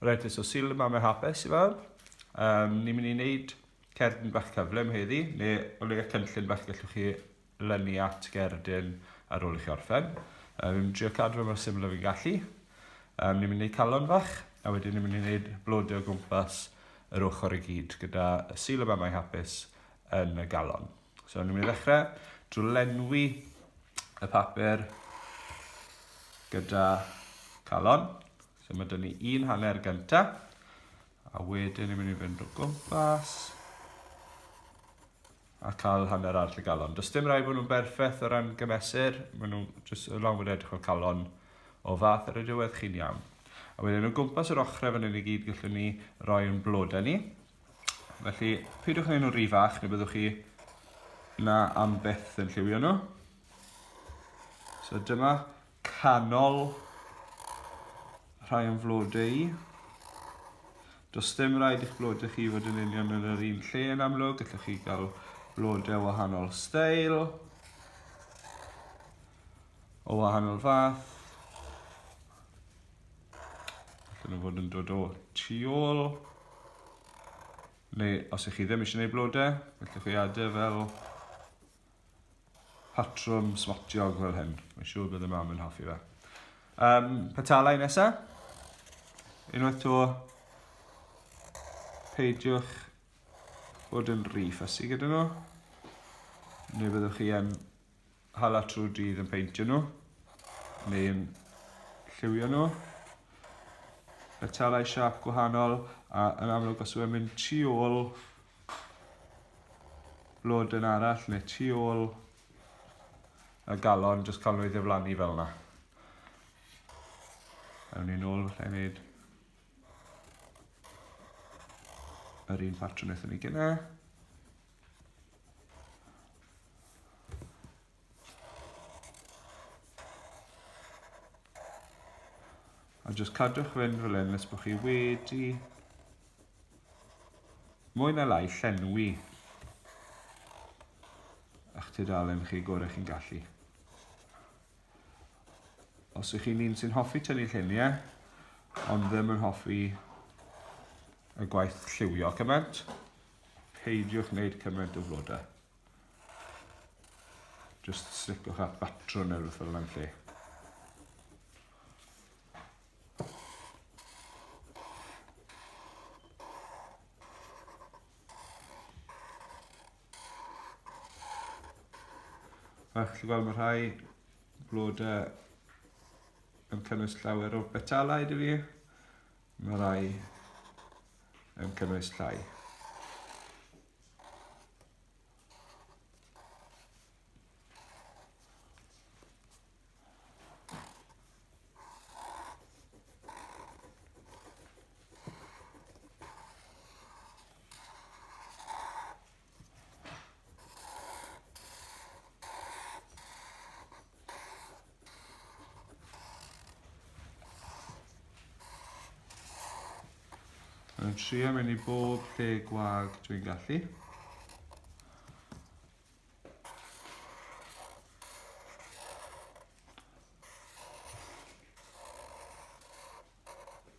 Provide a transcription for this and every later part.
Reit, so syl y mamau hapus i fawr. Um, ni'n mynd i wneud cerdyn bach cyflym heddi, neu o leia cynllun bach gallwch chi lynu at gerdyn ar ôl i chi orffen. Um, ni'n trio cadw fe mor syml o fi'n gallu. Um, ni'n mynd i wneud calon fach, a wedyn ni'n mynd i wneud blodau o gwmpas yr ochr i gyd, gyda syl y mamau hapus yn y galon. So, ni'n mynd i ddechrau drwy lenwi y papur gyda calon. So, mae dyn ni un hanner gyntaf, a wedyn ni'n mynd i fynd o gwmpas a cael hanner arall y galon. Does dim rhaid bod nhw'n berffaith o ran gymesur, maen nhw jyst yn lawn fod edrych o'r calon o fath ar y diwedd chi'n iawn. A wedyn o gwmpas yr ochrau fan hyn i gyd gallwn ni roi yn blodau ni, Felly, peidiwch â nhw'n rhy fach, neu byddwch chi na am byth yn lliwio nhw. So dyma canol rhai o'n flodau i. Does dim rhaid i'ch blodau chi fod yn union yn yr un lle yn amlwg, gallwch chi gael blodau wahanol stael, o wahanol fath. Allan nhw fod yn dod o tu ôl. Neu os ych chi ddim eisiau gwneud blodau, gallwch chi adau fel patrwm smotiog fel hyn. Mae'n siŵr bydd y mam yn hoffi fe. Um, petalau nesaf. Unwaith to, peidiwch bod yn rhi ffysi gyda nhw. Neu byddwch chi yn hala trwy'r dydd yn peintio nhw neu yn lliwio nhw. Metalau siap gwahanol a yn amlwg os yw'n mynd tu ôl blodyn arall neu tu ôl y galon, jyst cael nhw i ddiflannu fel yna. Ewn ni'n ôl falle i wneud yr un patrwn wnaethon ni gynnau. A jyst cadwch fynd fel hyn nes bod chi wedi mwy na lai llenwi a'ch tudalen chi gorau chi'n gallu. Os ych chi'n un sy'n hoffi tynnu lluniau, ond ddim yn hoffi y gwaith lliwio cymaint, Peidiwch wneud cymaint o flodau. Just slicwch at batrwn neu rhywbeth fel yna'n lle. A chi'n gweld mae rhai blodau yn cynnwys llawer o betalau dwi fi. Mae rai yn cynnwys llai. Mae'n trio mynd i bob lle gwag dwi'n gallu.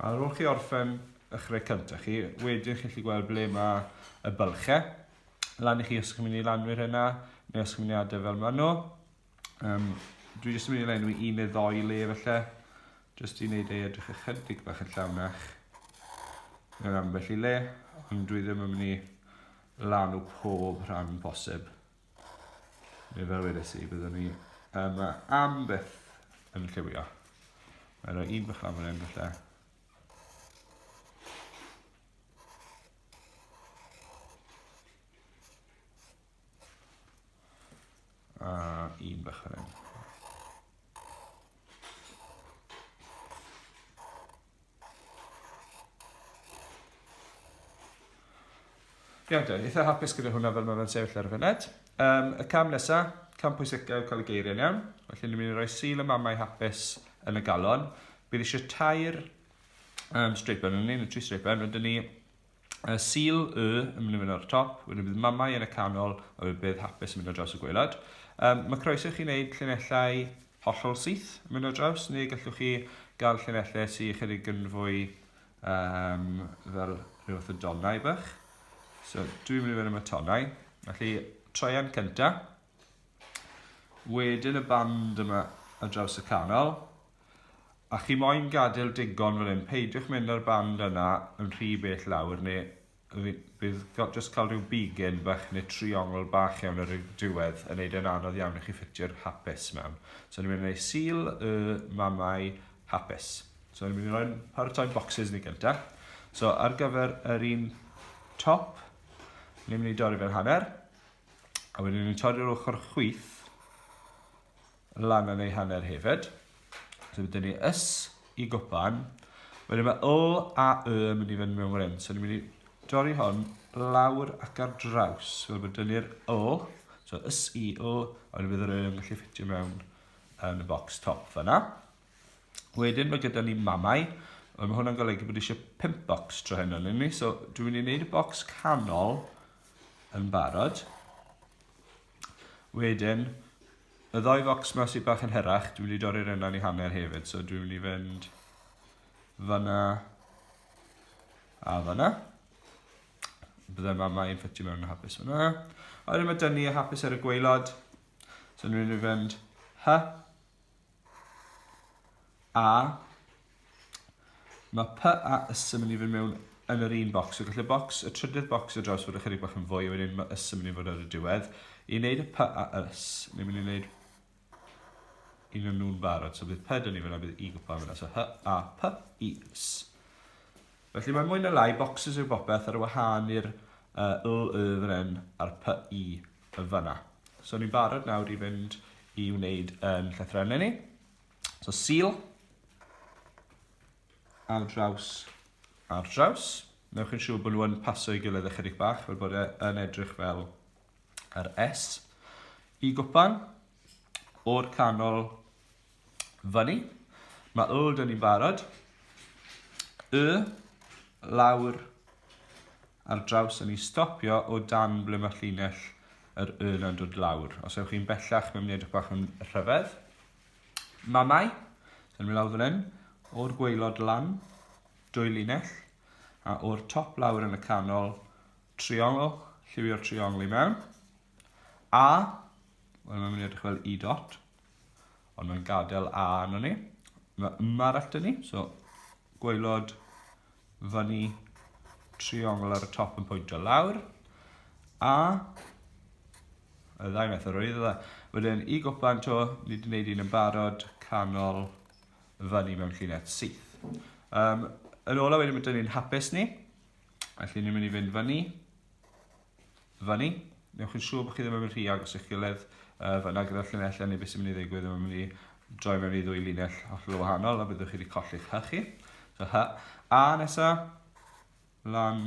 Ar ôl chi orffen eich rhai cyntaf chi, wedyn chi'n gallu gweld ble mae y bylchau. Lan i chi os chi'n mynd i lanwyr yna, neu os chi'n mynd i adau fel maen nhw. Um, dwi jyst yn mynd i lenwi un neu ddoi le felly, jyst i wneud ei edrych ychydig bach yn llawnach mewn ambell i le, ond dwi ddim yn mynd i lanw pob rhan posib. Neu fel wedes i, byddwn ni yma am byth yn lliwio. Mae rhoi un bychan fan hyn falle. A un bychan hyn. Iawn dweud, eitha hapus gyda hwnna fel mae fe'n sefyll ar y fyned. Um, y cam nesa, cam pwysicau yw cael y geiriau iawn. Felly ni'n mynd i roi sil y mamau hapus yn y galon. Bydd eisiau tair um, streipen yn ni, neu tri streipen, rydyn ni Y Sul Y yn mynd i fynd ar y top, wedyn bydd Mamau yn y canol, a bydd Bedd Hapus yn mynd ar draws y gwaelod. Um, mae croeso i chi wneud llinellau hollol syth yn mynd ar draws, neu gallwch chi gael llinellau sy'n ychydig yn fwy um, fel rhyw fath o donau bych. So, dwi'n mynd i fynd am y tonau. Felly, troian cyntaf. Wedyn y band yma ar draws y canol. A chi moyn gadael digon fan hyn, peidiwch mynd â'r band yna yn rhy bell lawr neu bydd just cael rhyw bigyn bach neu triongl bach iawn ar y diwedd yn neud e'n anodd iawn i chi ffitio'r hapus mewn. So ni'n mynd i wneud seal y mamau hapus. So ni'n mynd i roi'n paratoi'n boxes ni gyntaf. So ar gyfer yr un top, ni'n mynd i dorri fe'n hanner. A wedyn ni'n torri'r ochr chwyth lan yn ei hanner hefyd. So wedyn ni ys i gwpan. Wedyn mae O a Y yn mynd i fynd mewn fan hyn. So ni'n mynd i dorri hon lawr ac ar draws. So wedyn ni'r O. So ys i O. A wedyn bydd yr Y yn gallu ffitio mewn yn y box top fanna. Wedyn mae gyda ni mamau, ond mae hwnna'n golygu bod eisiau 5 bocs tro heno, nyn ni? So, dwi'n mynd i wneud y bocs canol yn barod. Wedyn, y ddoi focs yma sydd bach yn hyrach, dwi'n mynd i dorri'r yna'n i hanner hefyd, so dwi'n mynd i fynd fyna a fyna. Byddai mamau yn ffitio mewn yn hapus fyna. A wedyn mae dynnu y hapus ar y gweilod, so dwi'n mynd i fynd hy, A mae P a ys yn mynd i fynd mewn yn yr un bocs. So gallai bocs, y trydydd bocs o draws fod ychydig bach yn fwy, a wedyn mae ys yn mynd i fod ar y diwedd. I wneud y P a ys, ni'n mynd i wneud un o'n nhw'n barod. So bydd P dyn ni fyna, bydd I gwpan fyna. So H a P i ys. Felly mae mwy na lai, boxes yw bopeth ar y wahân i'r uh, L, Y fan hyn, a'r P, I yn fanna. So ni'n barod nawr i fynd i wneud yn llythrennau ni. So seal ar draws ar draws. Newch chi'n siŵr bod nhw'n paso i gilydd ychydig bach, fel bod e yn edrych fel yr S. I gwpan, o'r canol fyny, mae old yn i'n barod. Y, lawr, ar draws yn i stopio o dan ble mae llinell yr Y na'n dod lawr. Os ewch chi'n bellach, mae'n mynd i edrych bach yn rhyfedd. Mamau, yn mynd lawr fan hyn, o'r gweilod lan, dwy linell, a o'r top lawr yn y canol, triongl, lliwio'r triongl i mewn. A, wel mae'n mynd i edrych fel i dot. Ond mae'n gadael A arno ni. Mae yma arall dyn ni, so gwaelod fyny triongl ar y top yn pwyntio lawr. A y ddau method o'r iddo dda. Wedyn i gwpan to, ni wedi gwneud un yn barod, canol fyny mewn llinell syth. Um, yn ola wedyn mae dyn ni'n hapus ni, felly ni'n mynd i fynd fyny, fyny. Newch yn siŵr bod chi ddim yn mynd rhy agos i'ch gilydd uh, fyna gyda'r llinellau neu beth sy'n mynd i ddigwydd ddim yn mynd i droi mewn i ddwy linell hollol wahanol a byddwch chi wedi colli'ch hy chi. So hy. A nesa, lan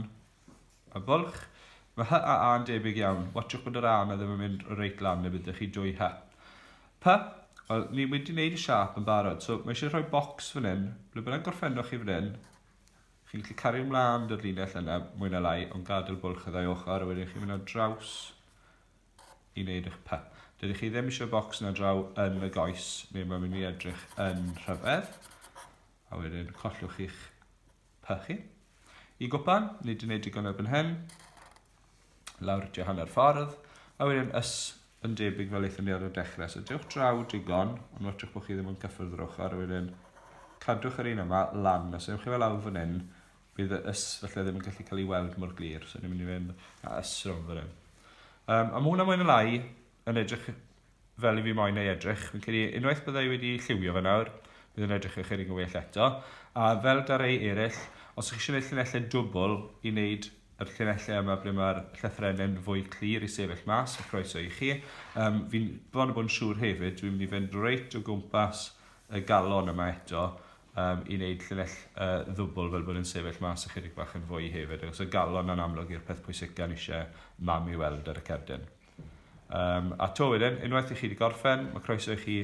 y bwlch. Mae hy a a'n debyg iawn. Watchwch bod yr a yna ddim yn mynd reit lan neu byddwch chi dwy hy. Py, wel, ni wedi wneud y siap yn barod, so mae eisiau rhoi bocs fan hyn, ble bynnag gorffennwch chi fan hyn, Chi'n gallu cario mlaen dy'r linell yna mwy na lai ond gadael bwlch y ddau ochr a wedyn chi'n mynd ar draws i wneud eich py. Dydych chi ddim eisiau bocs na draw yn y goes neu mae'n mynd i edrych yn rhyfedd a wedyn collwch chi'ch py chi. I gwpan, nid yn ei digon erbyn hyn, lawr tua hanner ffordd, a wedyn ys yn debyg fel eithon ni ar y dechrau. So dewch draw digon, ond watchwch bod chi ddim yn cyffwrdd yr ochr, a wedyn cadwch yr un yma lan. Os ewch chi fel awr fan hyn, bydd y ys felly ddim yn gallu cael ei weld mor glir. So ni'n mynd i fynd a ys rhwng fan hyn. Um, a mae hwnna mwyn y lai, yn edrych fel i fi moyn ei edrych. Fi'n credu unwaith bydda i wedi lliwio fe nawr, bydd yn edrych ychydig yn well eto. A fel da rei eraill, os ych chi eisiau gwneud llinellau dwbl i wneud yr llinellau yma ble mae'r llythrenau'n fwy clir i sefyll mas, y croeso i chi. Um, fi'n bron o bod yn siŵr hefyd, dwi'n mynd i fynd reit o gwmpas y galon yma eto um, i wneud llinell uh, ddwbl fel bod yn sefyll mas ychydig bach yn fwy hefyd, achos y galon yn amlwg i'r peth pwysica ni eisiau mam i weld ar y cerdyn. Um, a to wedyn, unwaith i chi wedi gorffen, mae croeso i chi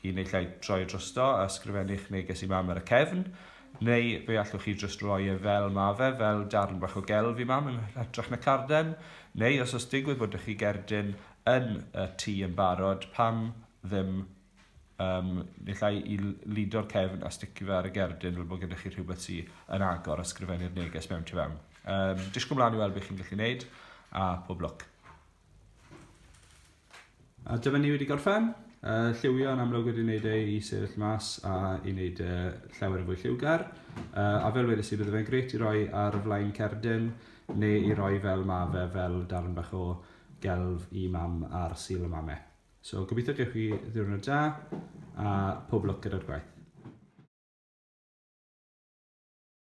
i wneud lle troi drosto a sgrifennu'ch neges i mam ar y cefn, neu fe allwch chi just roi e fel ma fe, fel darn bach o gelf i mam yn hytrach na carden, neu os os digwydd bod chi gerdyn yn y tŷ yn barod, pam ddim Um, nillai i lido'r cefn a sticio fe ar y gerdyn fel bod gennych chi rhywbeth sy'n yn agor a sgrifennu'r neges mewn tu fewn. Um, disgwyl mlaen i weld beth chi'n gallu gwneud a pob lwc. A dyma ni wedi gorffen. Uh, lliwio yn amlwg wedi wneud ei i sefyll mas a i wneud uh, llawer yn fwy lliwgar. Uh, a fel wedys i, bydde fe'n greit i roi ar y flaen cerdyn neu i roi fel ma fe fel darn bach o gelf i mam ar syl y mame. So gobeithio gewch chi ddiwrnod da a pob lwc gyda'r gwaith.